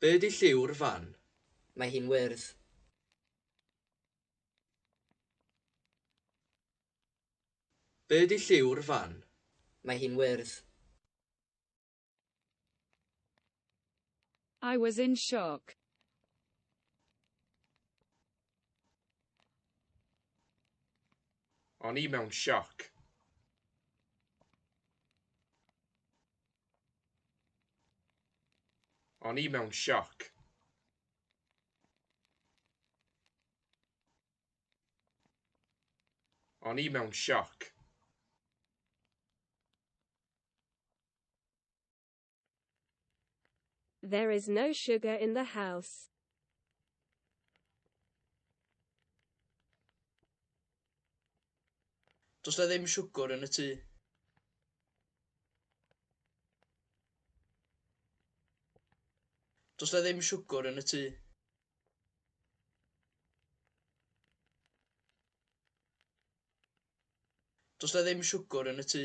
Be ydi lliw'r fan? Mae hi'n wyrdd. Be ydi lliw'r fan? Mae hi'n wyrdd. I was in shock. O'n i mewn sioc. O'n i mewn sioc. O'n i mewn sioc. There is no sugar in the house. Does na ddim siwgr yn y tŷ. Does na ddim siwgr yn y tŷ. Does na ddim siwgr yn y tŷ.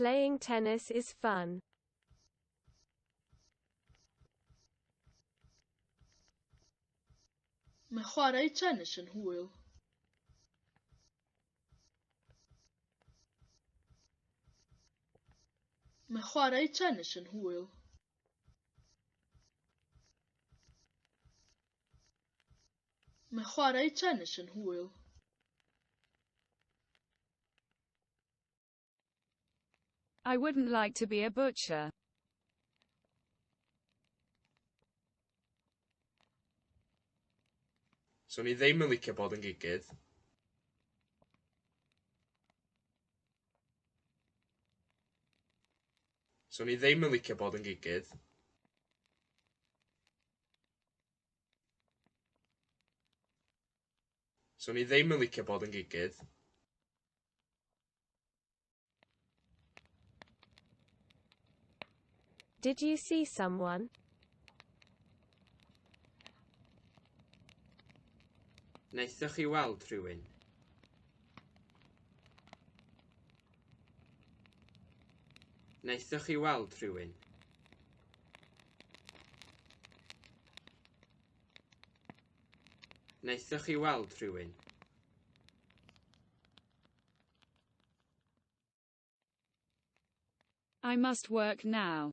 Playing tennis is fun. Mae chwarae tennis yn hwyl. Mae chwarae tennis yn hwyl. Mae chwarae tenis yn hwyl. I wouldn't like to be a butcher. So ni ddim yn licio bod yn gigydd. So ni ddim yn licio bod yn gigydd. So ni ddim yn licio bod yn gigydd. Did you see someone? Wnaethoch chi weld rhywun? Wnaethoch chi weld rhywun? Wnaethoch chi weld rhywun? I must work now.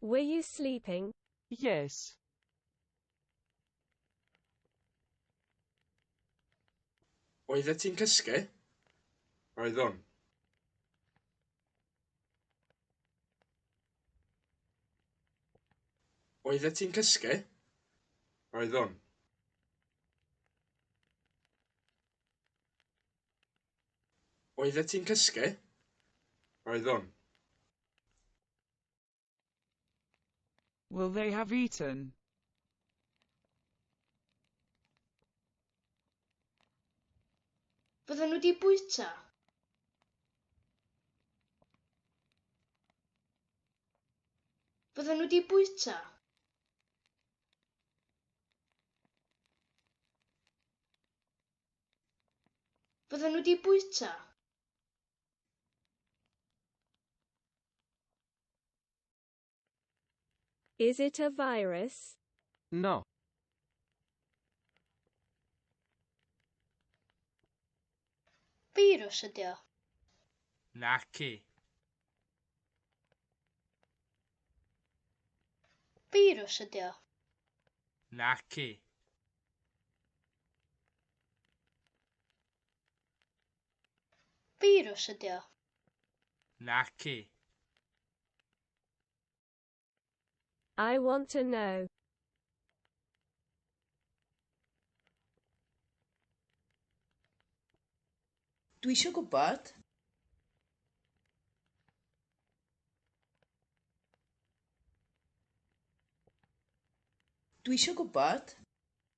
Were you sleeping? Yes. Oeddet ti'n cysgu? Oeddwn. Oeddet ti'n cysgu? Oeddwn. Oeddet ti'n cysgu? Oeddwn. Will they have eaten? Bydden nhw di bwyta? Bydden nhw di bwyta? Fydden nhw wedi bwyta? Is it a virus? No. Beirws ydi o. Naci. Beirws ydi o. Naci. Firws ydi o. Naci. I want to know. Dwi eisiau gwybod. Dwi eisiau gwybod.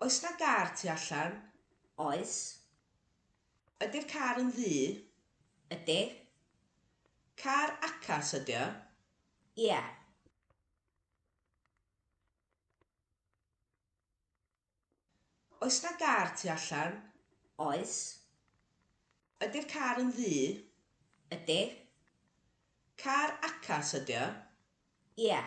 Oes 'na gar tu allan? Oes. Ydi'r car yn ddu? Ydi. Car acas ydi o? Ie. Oes 'na gar tu allan? Oes. Ydi'r car yn ddu? Ydi. Car acas ydi o? Ie.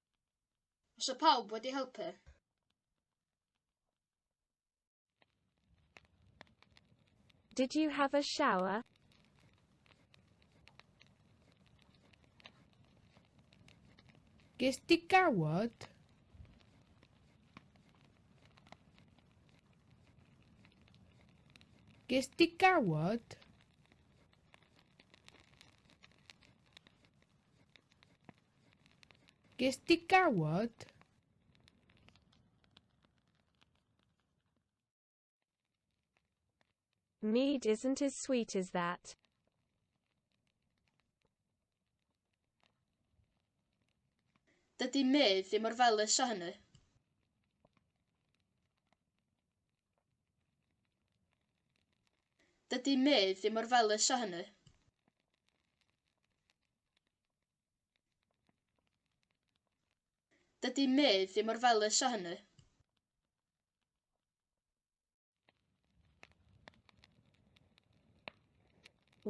Os y pawb wedi helpu. Did you have a shower? Ges di gawod? Ges di gawod? Ges di gawod? Mead isn't as sweet as that. Dydy mead ddim mor felys â hynny. Dydy mead ddim mor felys â hynny. Dydy Mei ddim mor felys â hynny.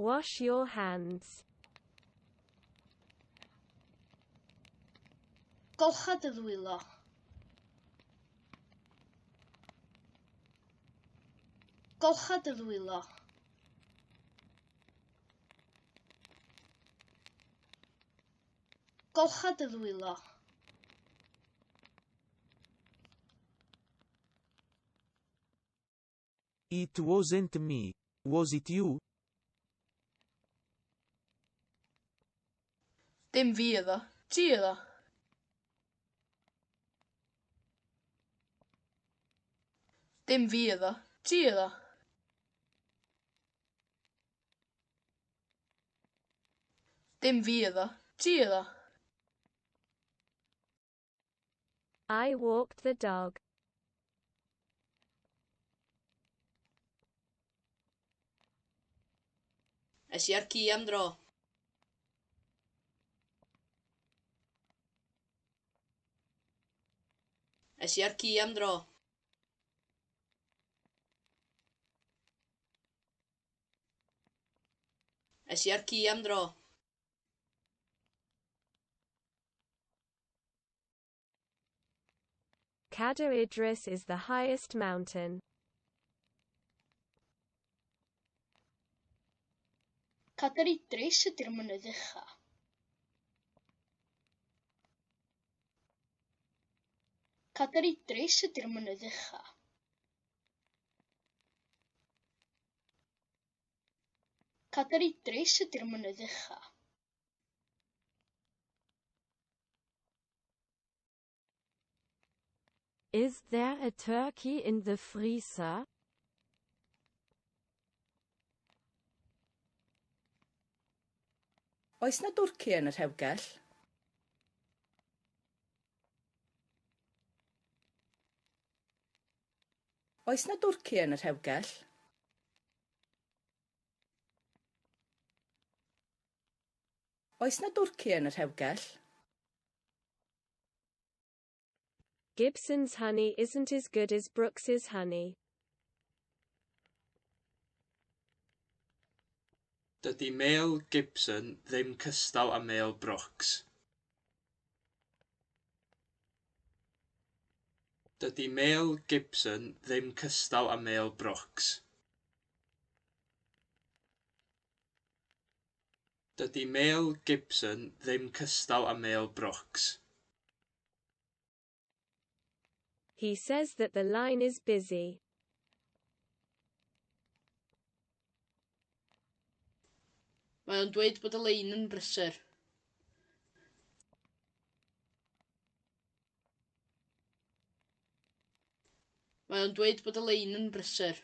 Wash your hands. Golcha dy ddwylo. Golcha dy ddwylo. Golcha dy ddwylo. It wasn't me, was it you? Dim fi iddo. Ti iddo. Dim fi iddo. Ti iddo. Dim fi oedd o. Ti oedd o. I walked the dog. Es i ar ci am dro. Es i ar ci am dro. Es i â'r ci am dro. Cadair Idris is the highest mountain. Cadair Idris ydy'r mynydd ucha. Cadair Idris ydy'r mynydd ucha. Cadair Idris ydy'r mynydd ucha. Is there a turkey in the freezer? Oes na dwrci yn y rhewgell? Oes 'na dwrci yn y rhewgell? Oes 'na dwrci yn y rhewgell? Gibson's honey isn't as good as Brooks's honey. Dydy mêl Gibson ddim cystal â mêl Brooks. Dydy Mel Gibson ddim cystal â Mel Brooks. Dydy Mel Gibson ddim cystal â Mel Brooks. He says that the line is busy. Mae o'n dweud bod y lein yn brysur. Mae o'n dweud bod y lein yn brysur.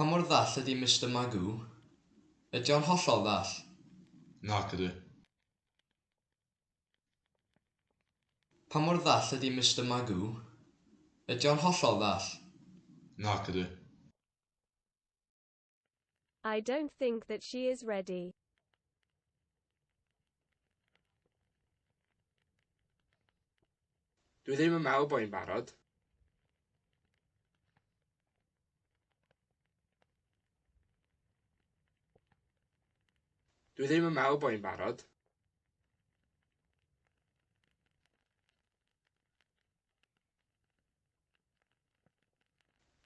Pa mor ddall ydi Mister Magoo? Ydi o'n hollol ddall? Nac ydi. Pa mor ddall ydi Mister Magoo? Ydi o'n hollol ddall? Nac ydi. I don't think that she is ready. Dwi ddim yn meddwl bod hi'n barod. Dwi ddim yn meddwl bod hi'n barod.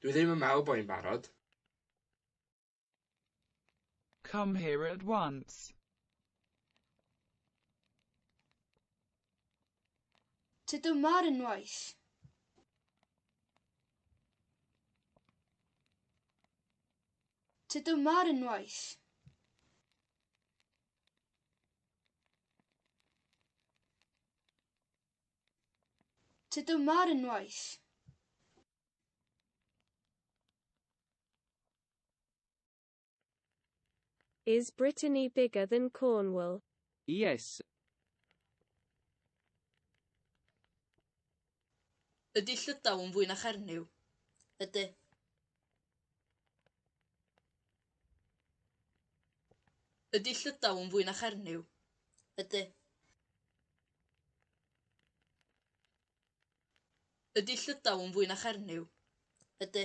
Dwi ddim yn meddwl bo hi'n barod. Come here at once. Tyd yma ar unwaith. Tyd yma ar unwaith. Tyd yma ar unwaith. Is Brittany bigger than Cornwall? Yes. Ydy Llydaw yn fwy na Chernyw? Ydy. Ydy llydaw yn fwy na chernyw? Ydy. Ydy llydaw yn fwy na chernyw? Ydy.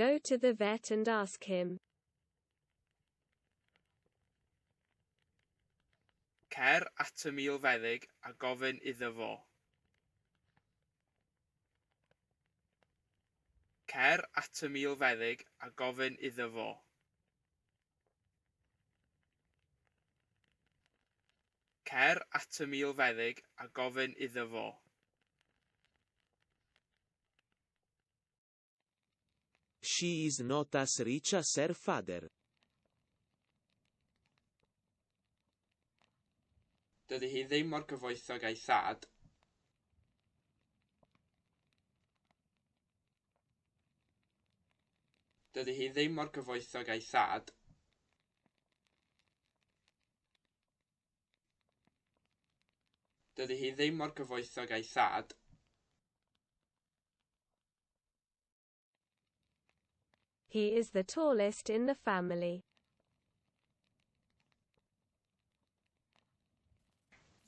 Go to the vet and ask him. Cer at y milfeddyg a gofyn iddo fo. Cer at y milfeddyg a gofyn iddo fo. Cer at y milfeddyg a gofyn iddo fo. She is not as rich as her father. Dydy hi ddim mor gyfoethog a'i thad. Dydy hi ddim mor gyfoethog a'i thad. Dydy hi ddim mor gyfoethog a'i thad. He is the tallest in the family.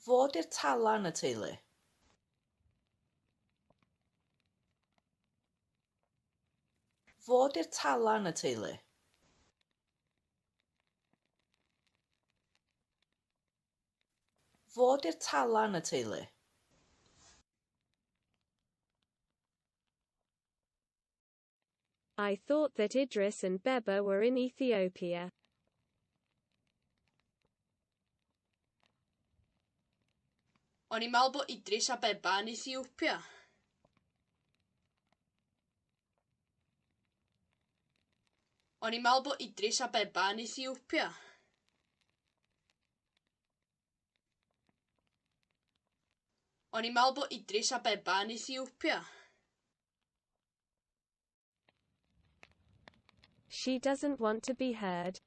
Fo di'r tala yn y teulu. Fo di'r tala yn y teulu. Fod i'r tala yn y teulu. I thought that Idris and Beba were in Ethiopia. O'n i'n meddwl bod Idris a Beba yn Ethiopia. O'n i'n meddwl bod Idris Abeba yn Ethiopia. O'n i'n meddwl bod Idris Abeba yn Ethiopia. She doesn't want to be heard.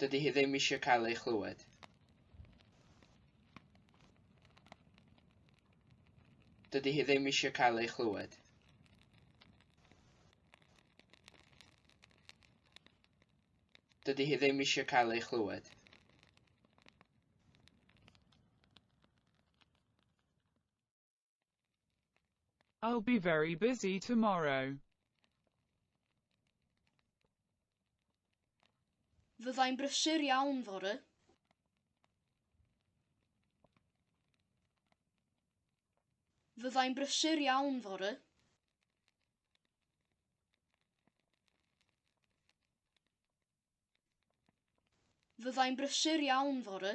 Dydy hi ddim eisiau cael ei chlywed. Dydy hi ddim eisiau cael ei chlywed. Dydy hi ddim eisiau cael ei chlywed. I'll be very busy tomorrow. Fyddai'n brysur iawn fory. Fyddai'n brysur iawn fory. Fyddai'n brysur iawn fory.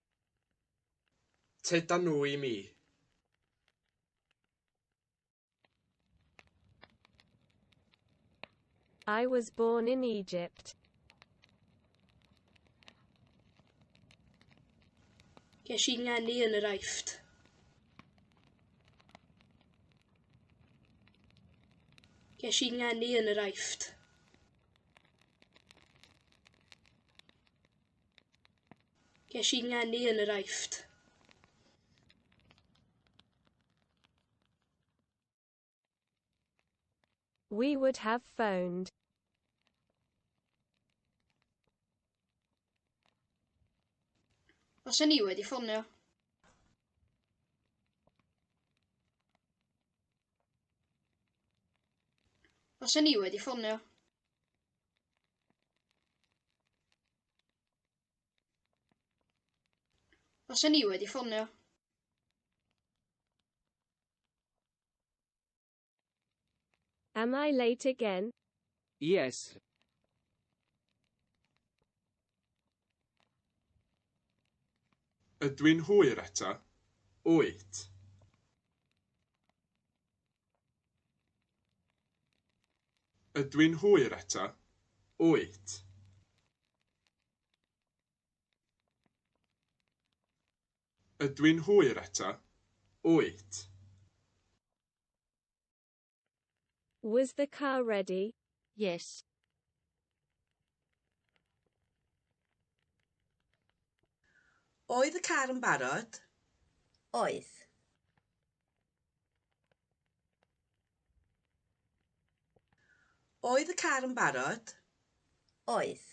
Tyd da nhw i mi. I was born in Egypt. Ges i ngeni yn yr Aifft. Ges i ngeni yn yr Aifft. Ges i ngeni yn yr Aifft. We would have phoned. Os o'n i wedi ffonio. Os o'n i wedi ffonio. Os o'n i wedi ffonio. Am I late again? Yes. Ydw i'n hwyr eto? Wyt. Ydw i'n hwyr eto? Wyt. Ydw i'n hwyr eto? Wyt. Was the car ready? Yes. Oedd y car yn barod? Oedd. Oedd y car yn barod? Oedd.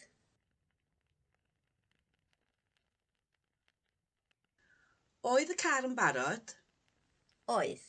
Oedd y car yn barod? Oedd.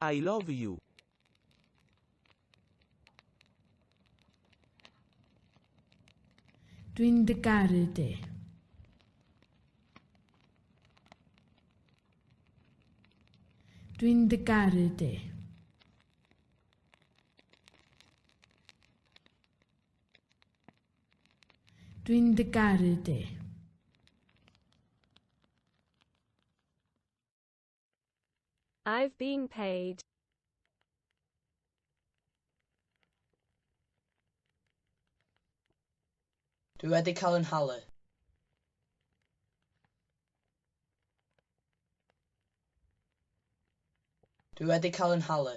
I love you. Dwi'n dy garu di. Dwi'n dy garu di. Dwi'n dy garu di. I've been paid. Dwi wedi cael yn halu. Dwi wedi cael yn halu.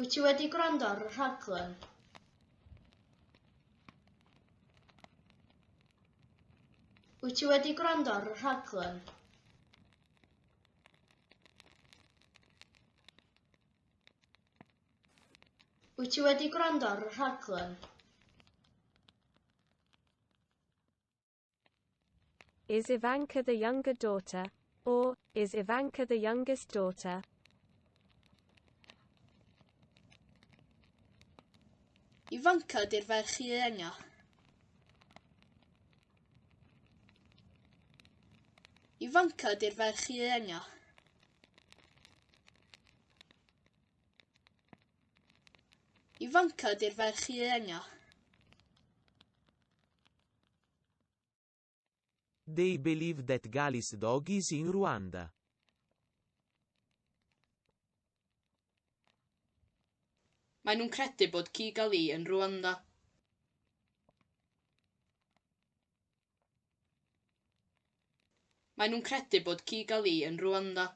Wyt ti wedi gwrando ar y rhaglen? Wyt ti wedi gwrando ar y rhaglen? Wyt ti wedi gwrando ar y rhaglen? Is Ivanka the younger daughter? Or, is Ivanka the youngest daughter? Ivanka di'r ferch ienga. Ivanka di'r ferch ienga. Ivanka di'r ferch ienga. They believe that Gali's dog is in Rwanda. Mae nhw'n credu bod ci Gali yn Rwanda. Mae nhw'n credu bod ci Gali yn Rwanda.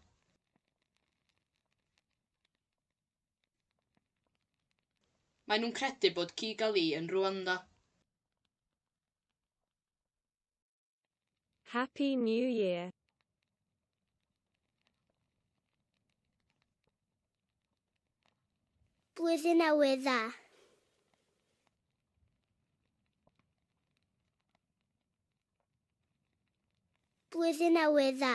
Maen nhw'n credu bod Kigali yn Rwanda. Happy New Year! Blwyddyn Newydd Dda! Blwyddyn Newydd Dda!